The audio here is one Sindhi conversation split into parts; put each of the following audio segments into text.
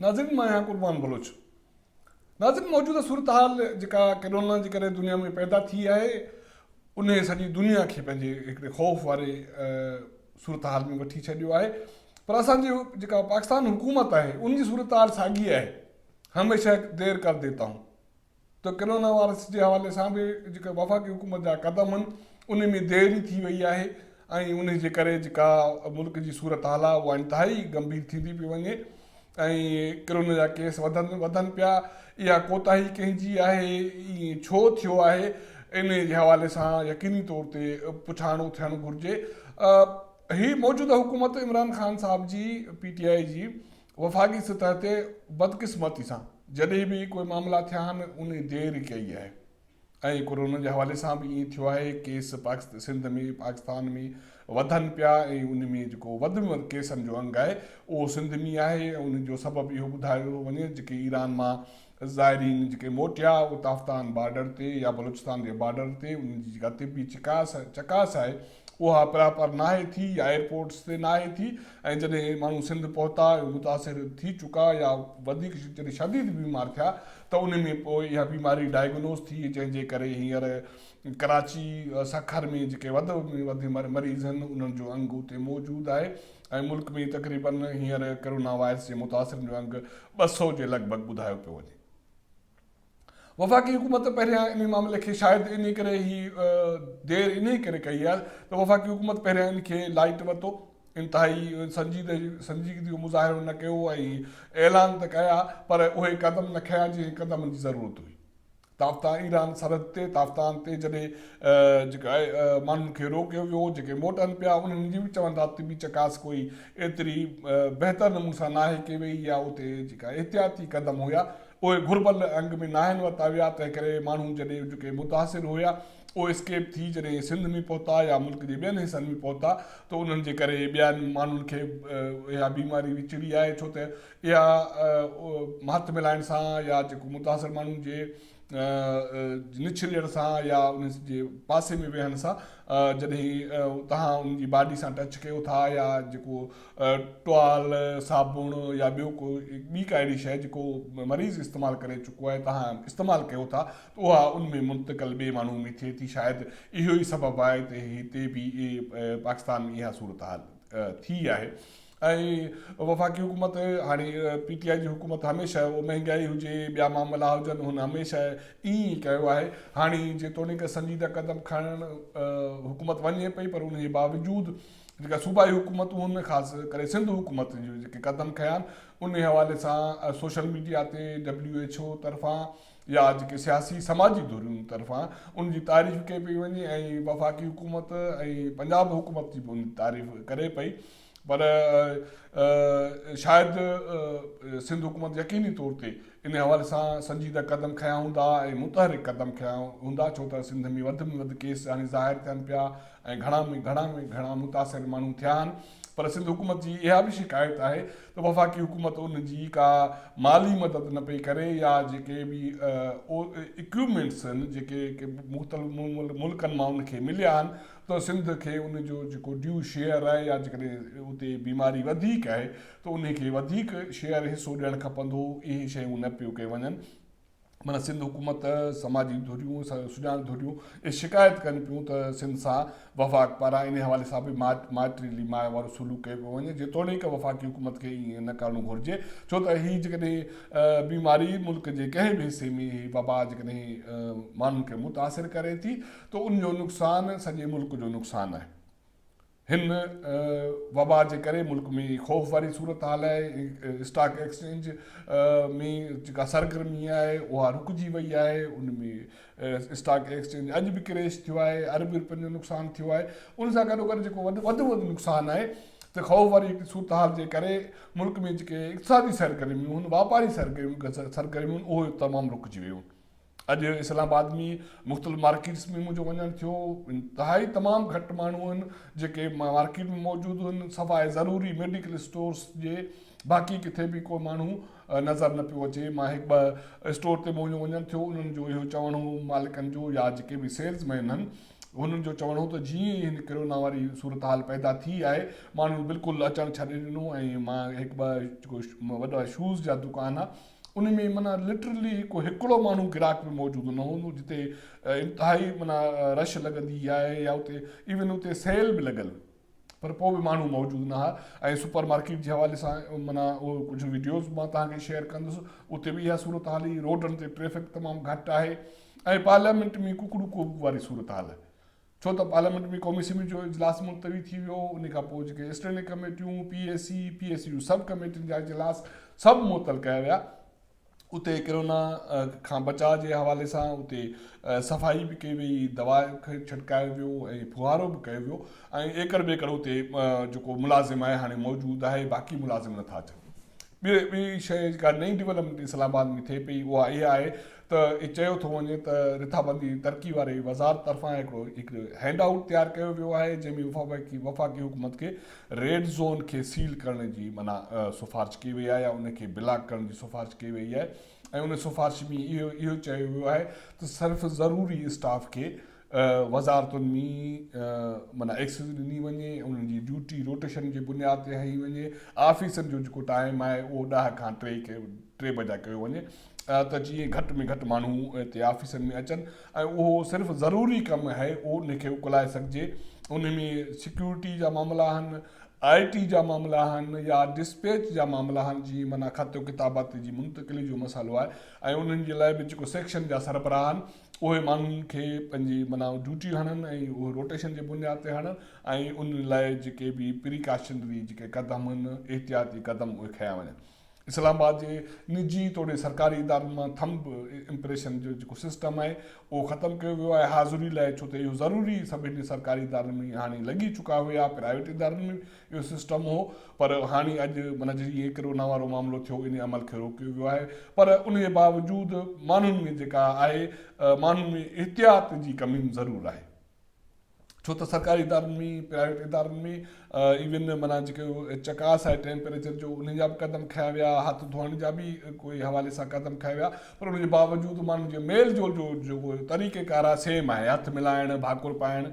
ناظرين مان آهيان قربان بلوچ ناظرين موجوده صورتحال جيڪا ڪرونا جي ڪري دنيا ۾ پيدا ٿي آهي انهي سڄي دنيا کي پنهنجي هڪڙي خوف واري صورتحال ۾ وٺي ڇڏيو آهي پر اسان جي جيڪا پاڪستان حڪومت آهي ان جي صورتحال ساڳي آهي هميشه دير ڪر ديتا هون ته ڪرونا وائرس جي حوالي سان به جيڪا وفاقي حڪومت جا قدم آهن انهن ۾ دير ئي ٿي وئي آهي ۽ انهي جي ڪري جيڪا ملڪ جي صورتحال آهي اها انتهائي گنڀير ٿيندي پئي وڃي ۽ ڪرونا جا ڪيس وڌن وڌن پيا اها ڪوتاهي ڪنهن جي آهي ائين ڇو ٿيو آهي انهي جي حوالي سان يقيني طور تي پڇاڻو ٿيڻ گهرجي هي موجوده حڪومت عمران خان صاحب جي پي ٽي آء جي وفاقي سطح تي بدقسمتي سان جڏهن به ڪوئي معاملا ٿيا آهن ان دير ڪئي آهي ۽ ڪورونا جي حوالي سان به ائين ٿيو آهي ڪيس پاڪست سنڌ ۾ پاڪستان ۾ وڌن پيا ۽ ان ۾ جيڪو وڌ ۾ ڪيسن جو انگ آهي اهو سنڌ ۾ آهي ۽ ان جو سبب اهو ٻڌايو وڃي جيڪي ايران مان زائرين جيڪي موٽيا اهي تافتان بارڊر تي يا بلوچستان جي بارڊر تي انهن جي جيڪا طبي چڪاس چڪاس آهي اها پراپر ناهي ٿي يا ايئرپورٽس تي ناهي ٿي ۽ جڏهن ماڻهو سنڌ پهتا اهي متاثر ٿي چڪا يا وڌيڪ جڏهن شديد بيمار ٿيا ته انهن ۾ پوء اها بيماري ڊائگنوز ٿي جنهن جي ڪري هينئر ڪراچي سکر ۾ جيڪي وڌ ۾ وڌ مريض آهن انهن جو انگ اتي موجود آهي ۽ ملڪ ۾ تقريبن هينئر ڪرونا وائرس جي متاثرن جو انگ ٻه سؤ جي لڳ ڀڳ ٻڌايو پيو وڃي. وفاقي حڪومت پهريان انهي معاملي کي شايد انهي ڪري هي دير انهي ڪري ڪئي آهي ته وفاقي حڪومت پهريان ان کي لائيٽ ورتو انتهائي سنجيدگي جو مظاهرو نه ڪيو ۽ اعلان ته ڪيا پر اهي قدم نه کنيا جنهن قدمن جي ضرورت هئي. تافتان ايران سرحد تي تافتان تي جڏهن جيڪا آهي ماڻهن کي روڪيو ويو هو جيڪي موٽن پيا انهن جي به چون ٿا طبي چڪاس ڪوئي ايتري بهتر نموني سان ناهي ڪئي وئي يا اتي جيڪا احتياطي قدم هيا اهي گهربل انگ ۾ ناهن ورتا ويا تنهن ڪري ماڻهو جڏهن جيڪي متاثر هيا اهي اسڪيپ ٿي جڏهن سنڌ ۾ پهتا يا ملڪ جي ٻين حصن ۾ پهتا ته انهن جي ڪري ٻين ماڻهن کي اها بيماري وچڙي آهي ڇو ته اها مهٿ ملائڻ سان يا جيڪو متاثر ماڻهو جي نڇليڻ سان يا ان جي پاسي ۾ ويهڻ سان جڏهن توهان ان جي باڊي سان ٽچ ڪيو ٿا يا جيڪو ٽوال صابڻ يا ٻيو ڪو ٻي ڪا اهڙي شيء جيڪو مريض استعمال ڪري چڪو آهي توهان استعمال ڪيو ٿا ته اها ان ۾ منتقل ٻئي ماڻهو ۾ ٿئي ٿي شايد اهو ئي سبب آهي ته هتي به پاڪستان ۾ اها صورتحال ٿي آهي اهي وفاقي حڪومت هاڻي پي ٽي آء جي حڪومت هميشه اهو مهنگائي هجي ٻيا معاملا هجن هن هميشه ائين ئي ڪيو آهي هاڻي جيتوڻيڪ سنجيده قدم کڻڻ حڪومت وڃي پئي پر ان جي باوجود جيڪا صوبائي حڪومتون هن خاص ڪري سنڌ حڪومت جو جيڪي قدم کيا آهن ان حوالي سان سوشل ميڊيا تي ڊبليو ايڇ او طرفان يا جيڪي سياسي سماجي دوريون طرفان ان جي تعريف ڪئي پئي وڃي ۽ وفاقي حڪومت ۽ پنجاب حڪومت جي به ان تعريف ڪري پئي پر شايد سنڌ حڪومت يقيني طور تي ان حوالي سان سنجيده قدم کنيا هوندا ۽ متحرڪ قدم کنيا هوندا ڇو ته سنڌ ۾ وڌ ۾ وڌ ڪيس هاڻي ظاهر ٿين پيا ۽ گهڻا ۾ گهڻا ۾ گهڻا متاثر ماڻهو ٿيا آهن پر سنڌ حڪومت جي اها به شڪايت آهي ته وفاقي حڪومت ان جي ڪا مالي مدد نه پئي ڪري يا جيڪي به اڪيوپمينٽس آهن جيڪي مختلف ملڪن مان ان کي مليا آهن ته سنڌ کي ان جو جيڪو ڊيو شيئر آهي يا جيڪڏهن اتي بيماري وڌيڪ آهي ته ان کي وڌيڪ شيئر حصو ڏيڻ کپندو اهي شيون نه پيو ڪيون وڃن معنيٰ سنڌ حڪومت سماجي ڌريون سڄاڻ ڌريون اهي شڪايت ڪن پيون ته سنڌ سان وفاق پاران ان حوالي سان به ماٽريلي ماء وارو سلوڪ ڪيو پيو وڃي جيتوڻيڪ وفاقي حڪومت کي ائين نه ڪرڻو گهرجي ڇو ته هي جيڪڏهن بيماري ملڪ جي ڪنهن به حصي ۾ هي وبا جيڪڏهن ماڻهن کي متاثر ڪري ٿي ته ان جو نقصان سڄي ملڪ جو نقصان آهي، هن وبا جي ڪري ملڪ ۾ خوف واري صورتحال آهي، اسٽاڪ ايڪسچينج ۾ جيڪا سرگرمي آهي اها رڪجي وئي آهي، ان ۾ اسٽاڪ ايڪسچينج اڄ به ڪريش ٿيو آهي، اربين رپين جو نقصان ٿيو آهي، ان سان گڏوگڏ جيڪو وڌ وڌ نقصان آهي ته خوف واري صورتحال جي ڪري ملڪ ۾ جيڪي اقتصادي سرگرميون هن واپاري سرگرميون اهي تمام رڪجي ويون. اڄ اسلام آباد ۾ مختلف مارڪيٽس ۾ منهنجو وڃڻ ٿيو، انتهائي تمام گهٽ ماڻهو آهن جيڪي مارڪيٽ ۾ موجود آهن، سواء ضروري ميڊيڪل اسٽورس جي باقي ڪٿي به ڪو ماڻهو نظر نه پيو اچي، مان هڪ ٻه اسٽور تي منهنجو وڃڻ ٿيو، انهن جو اهو چوڻ هو مالڪن جو يا جيڪي به سيلز مين آهن انهن جو چوڻ هو ته جيئن ئي هن ڪرونا واري صورتحال پيدا ٿي آهي ماڻهن بلڪل اچڻ ڇڏي ڏنو ۽ مان هڪ ٻه وڏا شوز جا دڪان ان ۾ معنيٰ لٽرلي ڪو هڪڙو ماڻهو گراڪ به موجود نه هوندو جتي انتهائي معنيٰ رش لڳندي آهي يا اتي ايون اتي سيل به لڳل پر پوء به ماڻهو موجود نه ها ۽ سپر مارڪيٽ جي حوالي سان معنيٰ اهو ڪجهه ويڊيوز مان توهان کي شيئر ڪندس اتي به اها صورتحال هي روڊن تي ٽريفڪ تمام گهٽ آهي ۽ پارليامينٽ ۾ ڪڪڙو ڪوب واري صورتحال ڇو ته پارليامينٽ ۾ قومي اسيمبلي جو اجلاس ملتوي ٿي ويو، انهي کان پوء جيڪي اسٽينڊنگ ڪميٽيون، P A C, P A C جون سب ڪميٽين جا اجلاس سڀ معطل ڪيا ويا. اتي ڪرونا کان بچاء جي حوالي سان اتي صفائي به ڪئي وئي، دوا کي ڇٽڪايو ويو ۽ ڦوهارو به ڪيو ويو ۽ ايڪڙ ٻيڪڙ اتي جيڪو ملازم آهي هاڻي موجود آهي باقي ملازم نٿا اچن. ٻئي ٻئي شيء جيڪا نئين ڊولپمينٽ اسلام آباد ۾ ٿئي پئي اها اها آهي ته اهي چيو ٿو وڃي ته رٿابندي ترقي واري وزارت طرفان هڪڙو هڪ هينڊ آئوٽ تيار ڪيو ويو آهي جنهن ۾ وفاقي وفاقي حڪومت کي ريڊ زون کي سيل ڪرڻ جي منع سفارش ڪئي وئي آهي يا ان کي بلاڪ ڪرڻ جي سفارش ڪئي وئي آهي ۽ ان سفارش ۾ اهو اهو چيو ويو آهي ته صرف ضروري اسٽاف کي وزارتن ۾ معنيٰ ايڪسز ڏني وڃي ۽ انهن جي ڊيوٽي روٽيشن جي بنياد تي هنئي وڃي. آفيسن جو جيڪو ٽائيم آهي اهو ڏهه کان ٽي بجا ڪيو وڃي ته جيئن گهٽ ۾ گهٽ ماڻهو هتي آفيسن ۾ اچن ۽ اهو صرف ضروري ڪم هي ان کي اڪلائي سگهجي. ان ۾ سيڪيورٽي جا معاملا آهن، آء ٽي جا معاملا آهن يا ڊسپيچ جا معاملا آهن جيئن معنيٰ خط و ڪتابت جي منتقلي جو مسئلو آهي ۽ انهن جي لاء به جيڪو سيڪشن جا سربراهن اهي ماڻهن کي پنهنجي معنيٰ ڊيوٽي هڻن ۽ اهو روٽيشن جي بنياد تي هڻن ۽ ان لاء جيڪي به پريڪاشنري جيڪي قدم آهن احتياطي قدم اهي کنيا وڃن اسلام آباد جي نجي توڙي سرڪاري ادارن مان ٿمب امپريشن جو جيڪو سسٽم آهي اهو ختم ڪيو ويو آهي حاضري لاء ڇو ته اهو ضروري سڀني سرڪاري ادارن ۾ هاڻي لڳي چڪا هيا پرائيويٽ ادارن ۾ اهو سسٽم هو پر هاڻي اڄ معنيٰ جي اهي ڪرونا وارو معاملو ٿيو انهي عمل کي روڪيو ويو آهي پر ان جي باوجود ماڻهن ۾ جيڪا آهي ماڻهن ۾ احتياط جي ڪمي ضرور آهي ڇو ته سرڪاري ادارن ۾ پرائيويٽ ادارن ۾ ايون معنيٰ جيڪو چڪاس آهي ٽيمپريچر جو انهي جا به قدم کنيا ويا هٿ ڌوئڻ جا به ڪوئي حوالي سان قدم کنيا ويا پر ان جي باوجود ماڻهن جي ميل جول جو جيڪو طريقه ڪار آهي سيم آهي هٿ ملائڻ ڀاڪر پائڻ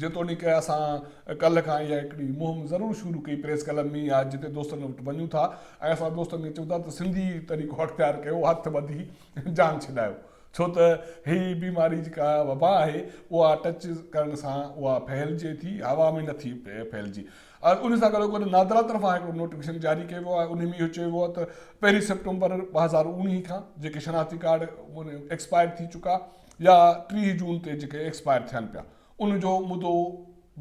جيتوڻيڪ اسان ڪلهه کان اها هڪڙي مهم ضرور شروع ڪئي پريس ڪلب ۾ يا جتي دوستن وٽ وڃون ٿا ۽ اسان دوستن کي چئون ٿا ته سنڌي طريقو اختيار ڪيو هٿ ٻڌي جان ڇڏايو ڇو ته هي بيماري جيڪا وبا آهي اها ٽچ ڪرڻ سان اها ڦهلجي ٿي هوا ۾ نه ٿي ڦهلجي ان سان گڏو گڏ نادرا طرفان هڪڙو نوٽيفڪيشن جاري ڪيو ويو آهي ان ۾ اهو چيو ويو آهي ته پهرين سيپٽمبر ٻه هزار اوڻيهه کان جيڪي شناختي ڪارڊ ايڪسپائر ٿي چڪا يا ٽيهه جون تي جيڪي ايڪسپائر ٿين پيا ان جو مدو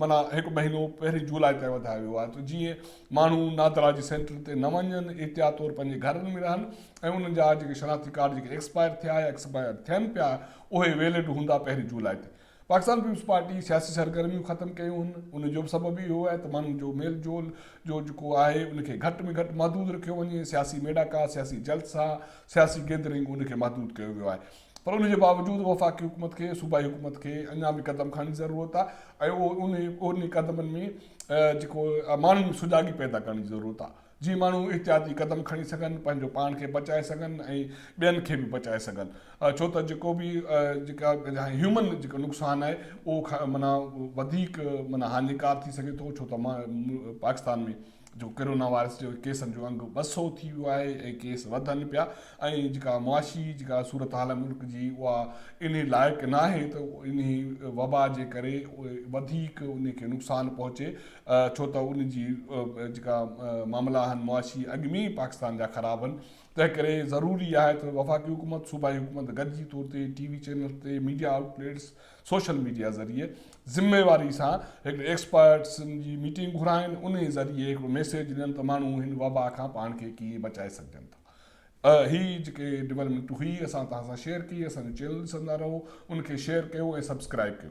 معنيٰ هڪ مهينو پهرين جولاء تائين وڌايو ويو آهي ته جيئن ماڻهو نادرا جي سينٽرن تي نه وڃن احتياط طور پنهنجي گهرن ۾ رهن ۽ انهن جا جيڪي شناختي ڪارڊ جيڪي ايڪسپائر ٿيا يا ايڪسپائر ٿين پيا اهي ويلڊ هوندا پهرين جولاء تي پاڪستان پيپلز پارٽي سياسي سرگرميون ختم ڪيون هن ان جو به سبب اهو آهي ته ماڻهن جو ميل جول جو جيڪو آهي ان کي گهٽ ۾ گهٽ محدود رکيو وڃي سياسي ميڙاڪا سياسي جلسا سياسي گيدرنگ ان کي محدود ڪيو ويو آهي پر ان جي باوجود وفاقي حڪومت کي صوبائي حڪومت کي اڃا به قدم کڻڻ جي ضرورت آهي ۽ انهن قدمن ۾ جيڪو ماڻهن ۾ سجاڳي پيدا ڪرڻ جي ضرورت آهي جيئن ماڻهو احتياطي قدم کڻي سگهن پنهنجو پاڻ کي بچائي سگهن ۽ ٻين کي به بچائي سگهن ڇو ته جيڪو به جيڪا هيومن جيڪو نقصان آهي اهو معنيٰ وڌيڪ معنيٰ هاڃيڪار ٿي سگهي ٿو ڇو ته پاڪستان ۾ جو ڪرونا وائرس جي ڪيسن جو انگ ٻه سؤ ٿي ويو آهي ۽ ڪيس وڌن پيا ۽ جيڪا معاشي جيڪا صورتحال آهي ملڪ جي اها انهي لائق ناهي ته انهي وبا جي ڪري وڌيڪ انهي کي نقصان پهچي ڇو ته ان جي جيڪا معاملا آهن معاشي اڳ ۾ ئي پاڪستان جا خراب آهن تنهن ڪري ضروري آهي ته وفاقي حڪومت صوبائي حڪومت گڏجي طور تي ٽي وي چينلز تي media outlets social media ذريعي ذميواري سان هڪڙي ايڪسپرٽس جي ميٽنگ گهرائين انهي ذريعي هڪڙو ميسيج ڏين ته ماڻهو هن وبا کان پاڻ کي ڪيئن بچائي سگهجن ٿا هي جيڪي ڊولپمينٽ هئي اسان توهان سان شيئر ڪئي اسان جو چينل ڏسندا رهو ان کي شيئر ڪيو ۽ سبسڪرائب ڪيو.